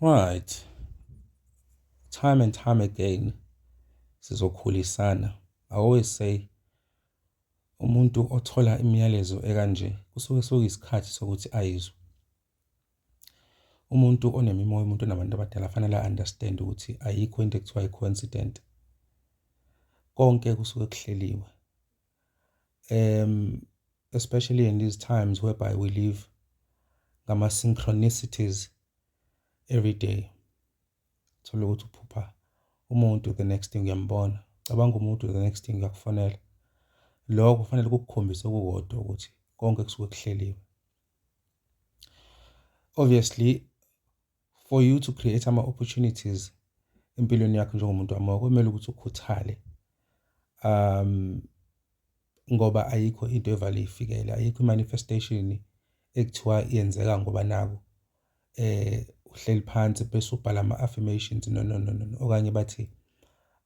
Right. Time and time again sizokhulisana. I always say umuntu othola imiyalezo ekanje kusuke soyisikhathi sokuthi ayizwe. Umuntu onemimoya, umuntu onabantu abadala fanele understand ukuthi ayikho into ekuthiwa i-coincident. Konke kusuke kuhleliwe. um especially in these times whereby we live ngama-synchronicities every day thole ukuthi uphupha umuntu the next thing uyambona cabanga umuntu the next thing uyakufonela lokho kufanele kukukhombise okukodwa ukuthi konke kusuke kuhleliwe obviously for you to create ama-opportunities empilweni yakho njengomuntu wamoya kumele ukuthi ukhuthale um ngoba ayikho into evale ifikele ayikho i-manifestation ekuthiwa yenzeka ngoba naku eh uhleli phansi bese ubhala ama-affirmations no no no no okanye bathi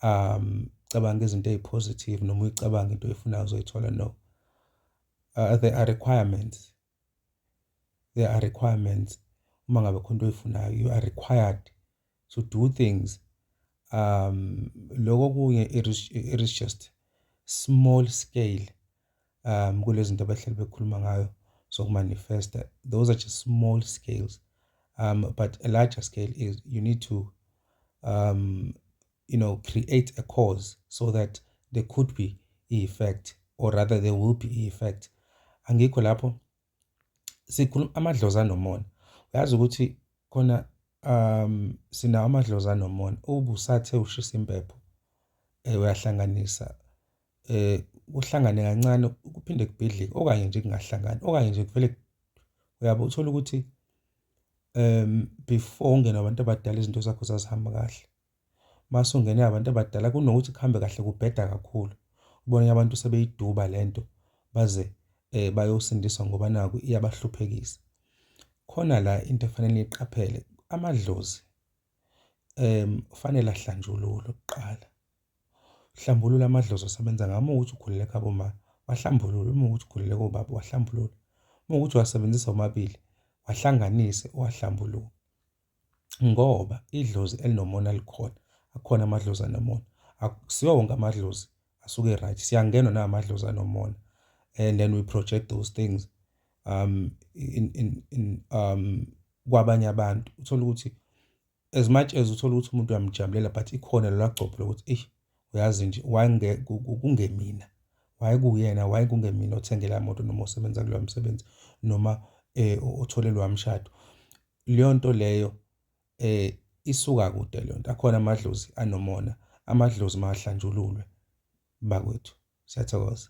um cabanga izinto ezipositive noma uyicabanga into oyifunayo uzoyithola no uh, there are requirements there are requirements uma ngabe khona into oyifunayo you are required to do things um lokho kunye it is, it is just small scale um kulezi zinto abahleli bekhuluma ngayo zokumanifesta those are just small scales um but a larger scale is you need to um you know, create a cause so that there could be i-effect or rather there will be i-effect. Angikho lapho sikhuluma amadlozi anomona. Uyazi ukuthi khona um sinawo amadlozi anomona ubusathe ushisa impepho eh, uyahlanganisa eh kuhlangane kancane kuphinde kubhidlike okanye nje kungahlangani okanye nje kuvele uyabo uthola ukuthi um before ungena abantu abadala izinto zakho zazihamba kahle masungene abantu abadala kunokuthi kuhambe kahle kubheda kakhulu ubone abantu sebeyiduba lento baze eh bayosindiswa ngoba naku iyabahluphekisa khona la into efanele iqaphele amadlozi em kufanele ahlanjululwe kuqala hlambulula amadlozi asebenza ngamo ukuthi ukhulele khabo ma wahlambulula uma ukuthi ukhulele kobaba wahlambulula uma ukuthi wasebenzisa omabili wahlanganise wahlambulula ngoba idlozi elinomona likhona, akhona amadlozi anomona. Akusiwo wonke amadlozi asuke e-right, siyangenwa nawamadlozi anomona and then we project those things um in in in um kwabanye abantu. Uthole ukuthi as much as uthole ukuthi umuntu uyamujabulela but ikhona lelagcobho lokuthi eish. uyazi nje waye kungemina waye kuyena waye kungemina othengela moto noma osebenza kuloya msebenzi noma eh othole loya mshado leyo nto leyo eh isuka kude leyo nto akhona amadlozi anomona amadlozi mahlanjululwe bakwethu siyathokoza